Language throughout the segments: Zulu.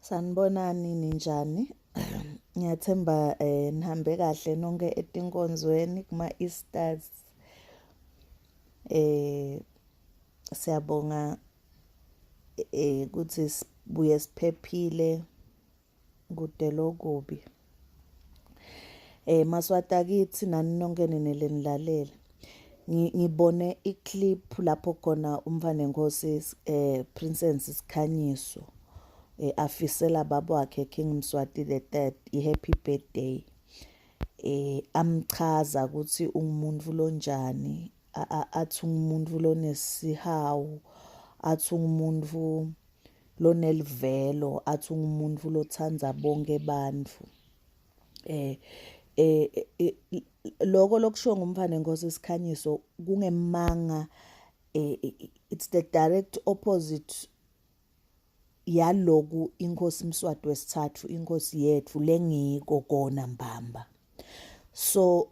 Sanibonani ninjani? Ngiyathemba eh nihambe kahle nonke etinkonzweni kuma Easters. Eh siyabonga eh ukuthi sibuye siphephile. kudela okubi eh maswata kithi nani nonke nenelenilalela ngibone iclip lapho khona umfana enkosi eh princess sikhanyiso eh afisela baba wakhe king mswati the third i happy birthday eh amchaza ukuthi ungumuntu lonjani athi ungumuntu lonesihawu athi ungumuntu lonelivelo athi ungumuntu lothanda bonke abantu eh eh, eh, eh lokho lokushiwo ngumfane Nkosi Sikhanyiso kungemanga eh, eh it's the direct opposite yaloku inkosi Mswati wesithathu inkosi yethu lengiko kona mbamba so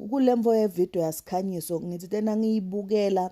kulemvo yevideo yasikhanyiso ngithi tena ngiyibukela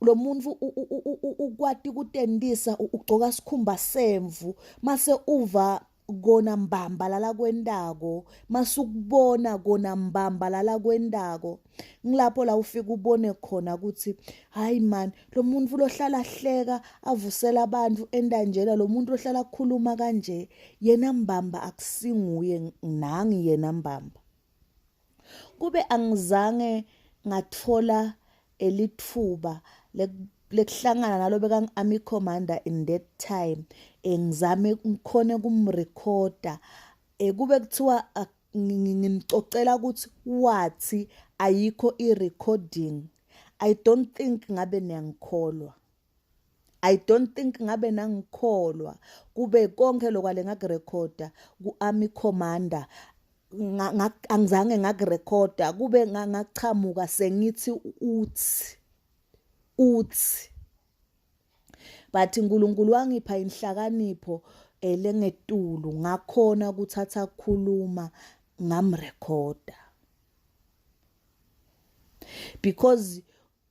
lo muntu ukwati kutendisa ugcoka sikhumba semvu mase uva kona mbamba lala kwentako masukubona kona mbamba lala kwentako ngilapho la ufika ubone khona ukuthi hayi man lo muntu lohlala hleka avusela abantu entanjena lo muntu lohlala khuluma kanje yena mbamba akusinguye nangi yena mbamba kube angizange ngathola elithuba lekuhlangana nalo bekangi-army commander in that time eh, ngizame ngikhone kumrekhoda eh, kube kuthiwa ah, ngimcocela ukuthi wathi ayikho i-recording i don't think ngabe niyangikholwa I don't think ngabe nangikholwa kube konke lokwale ngakurecorda kuArmy Commander angizange ngakurecorda kube ngachamuka sengithi uthi uthi but uNkulunkulu wangipha inhlakanipho elengetulu ngakhona ukuthatha khuluma ngamrecorda because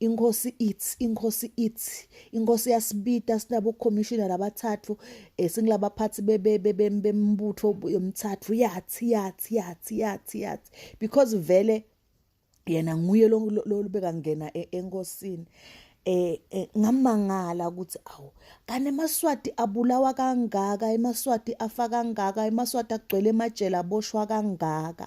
inkosi ithi inkosi ithi inkosi yasibita sinabo commissioner abathathu esingilaba eh, phathi bembutho yomthathu yathi yathi yathi yathi yathi because vele yena nguye lolubeka ngena e-, enkosini eh, eh ngamangala ukuthi awu kanti emaswati abulawa kangaka emaswati afa kangaka emaswati agcwele emajele aboshwa kangaka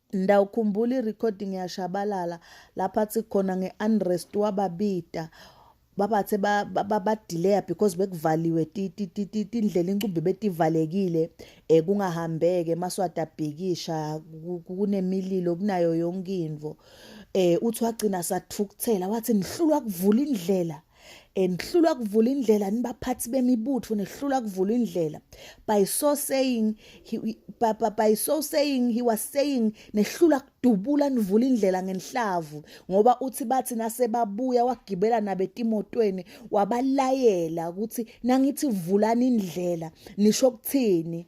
Ndawukhumbula i-recording yashabalala lapha athi khona nge-unrest wababita babathe babadileya because bekuvaliwe indlela incumbi betivalekile um kungahambeke maswati abhikisha kunemililo kunayo yonke into um uthi wagcina sathukuthela wathi nihlulwa kuvula indlela Eh, nihlulwa kuvula indlela nibaphathi bemibutho nihlulwa kuvula indlela by so saying he, by, by, by so saying he was saying nehlula kudubula nivula indlela ngenhlavu ngoba uthi bathi nasebabuya wagibela nabetimotweni wabalayela ukuthi nangithi vulani indlela nisho ukuthini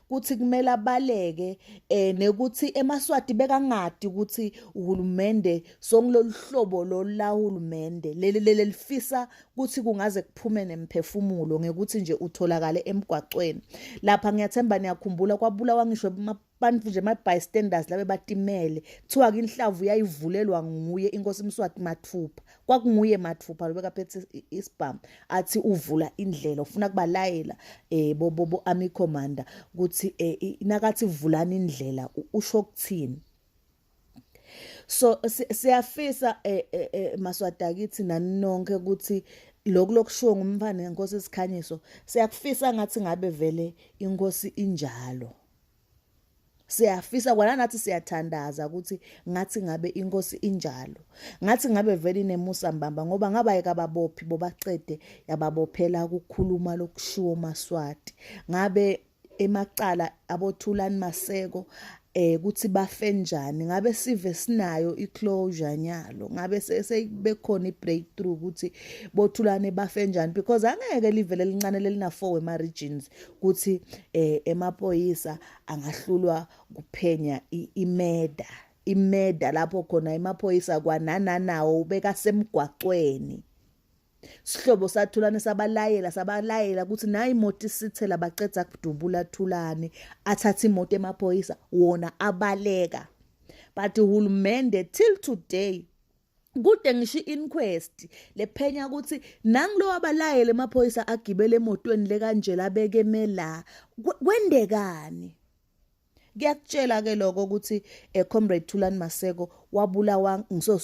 kuthi kumele abaleke eh nekuthi emaswati bekangadi ukuthi uhulumende songiloluhlobo lola hulumende leli lelifisa ukuthi kungaze kuphume nemphefumulo ngekuthi nje utholakale emgwaqweni lapha ngiyathemba niyakhumbula kwabulawa ngisho abantu nje ama bystanders labe batimele kuthiwa ke inhlavu yayivulelwa nguye inkosi Mswati mathupha kwakunguye mathupha lo bekaphethe isibhamu athi uvula indlela ufuna kubalayela eh bobo bo army commander ukuthi eh, nakathi vulani indlela usho ukuthini so siyafisa eh, eh, eh maswadakithi naninonke ukuthi lokhu lokushiwo ngumfana ngenkosi isikhanyiso siyakufisa ngathi ngabe vele inkosi injalo siyafisa kwana nathi siyathandaza ukuthi ngathi ngabe inkosi injalo ngathi ngabe vele inemusa mbamba ngoba ngabayeka ababophi bobacede yababophela ukukhuluma lokushiwo maswati ngabe emacala abothulani maseko eh ukuthi bafe njani ngabe sive sinayo iclosure nyalo ngabe sebekhona ibreakthrough ukuthi bothulane bafe njani because angeke livele lincane lelina 4 wema regions kuthi eh emapoyisa angahlulwa kuphenya imeda imeda lapho khona emaphoyisa kwanananawo ubeka semgwaqweni sihlobo sathulane sabalayela sabalayela ukuthi nayi imoto isithela baqeda kudubula thulane athatha imoto emaphoyisa wona abaleka but uhulumende till today kude ngisho i-inquest lephenya ukuthi nangulo wabalayele emaphoyisa agibele emotweni lekanjela abeke mela kwendekani kuyakutshela ke lokho ukuthi eh, comrade Thulani Maseko wabulawa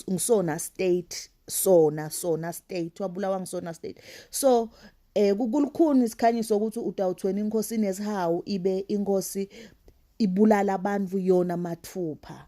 ngisona state sona sona state wabulawa ngisona state so eh kukulukhuni isikhanyiso ukuthi utawuthweni inkosi nezihawu ibe inkosi ibulala abantu yona mathupha